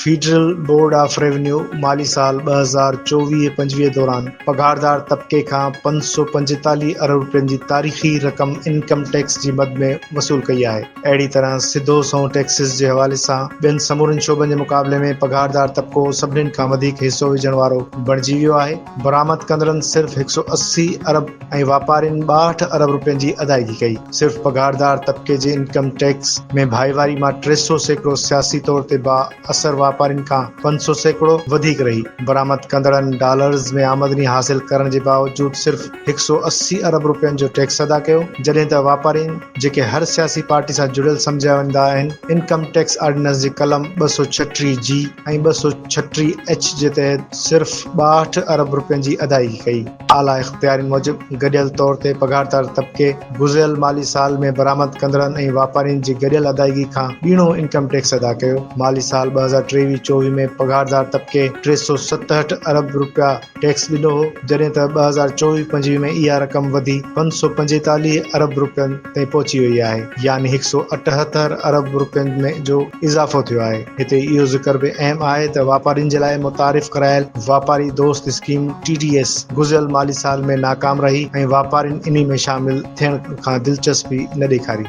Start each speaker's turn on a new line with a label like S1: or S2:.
S1: Federal board of revenue مالي سال ٻه هزار چوويهه پنجويهه دوران پگهاردار طبقي کان پنج سؤ پنجيتاليهه ارب رپين جي تاريخي رقم انڪم ٽيڪس جي مد ۾ وصول ڪئي آهي. اهڙي طرح سڌو سنئون ٽيڪسز جي حوالي سان ٻين سمورن شعبن جي مقابلي ۾ پگهاردار طبقو سڀني کان وڌيڪ حصو وجهڻ وارو بڻجي ويو آهي، برآمد ڪندڙن صرف هڪ سؤ اسي ارب ۽ واپارين ٻاهٺ ارب رپين جي ادائگي ڪئي، صرف پگهاردار طبقي جي انڪم ٽيڪس ۾ ڀائيواري مان ٽي سؤ سيڪڙو سياسي طور تي با. اثر واپارين کان پنج سؤ سيڪڙو وڌيڪ رهي، برآمد ڪندڙن ڊالرز ۾ آمدني حاصل ڪرڻ جي باوجود صرف هڪ سؤ اسي ارب رپين جو ٽيڪس ادا ڪيو، جڏهن ته واپارين جيڪي هر سياسي پارٽي سان جڙيل سمجهيا ويندا آهن، انڪم ٽيڪس آرڊيننس جي قلم ٻه سؤ ڇٽيهه جي ۽ ٻه سؤ ڇٽيهه ايڇ جي تحت صرف ٻاهٺ ارب رپين جي ادائيگي ڪئي. اعليٰ اختيارين موجب گڏيل طور تي پگهاردار طبقي گذريل مالي سال ۾ برآمد ڪندڙن ۽ واپارين جي گڏيل ادائيگي کان ٻيڻو انڪم ٽيڪس ادا ڪيو، مالي سال ٻه هزار ٽيويهه چوويهه ۾ پگهاردار طبقي ٽي سؤ ستهٺ ارب رپيا ٽيڪس ڏنو هو جڏهن ته ٻه هزار چوويهه پنجويهه ۾ اها رقم وڌي پنج سؤ پنجيتاليهه ارب رپين تائين پهچي وئي آهي يعني هڪ سؤ اٺهتر ارب رپين ۾ جو اضافو ٿيو آهي. هتي اهو ذڪر به اهم آهي ته واپارين جي لاء متعارف ڪرايل واپاري دوست اسڪيم، ٽي ڊي ايس، گذريل مالي سال ۾ ناڪام رهي ۽ واپارين انهي ۾ شامل ٿيڻ کان دلچسپي نه ڏيکاري.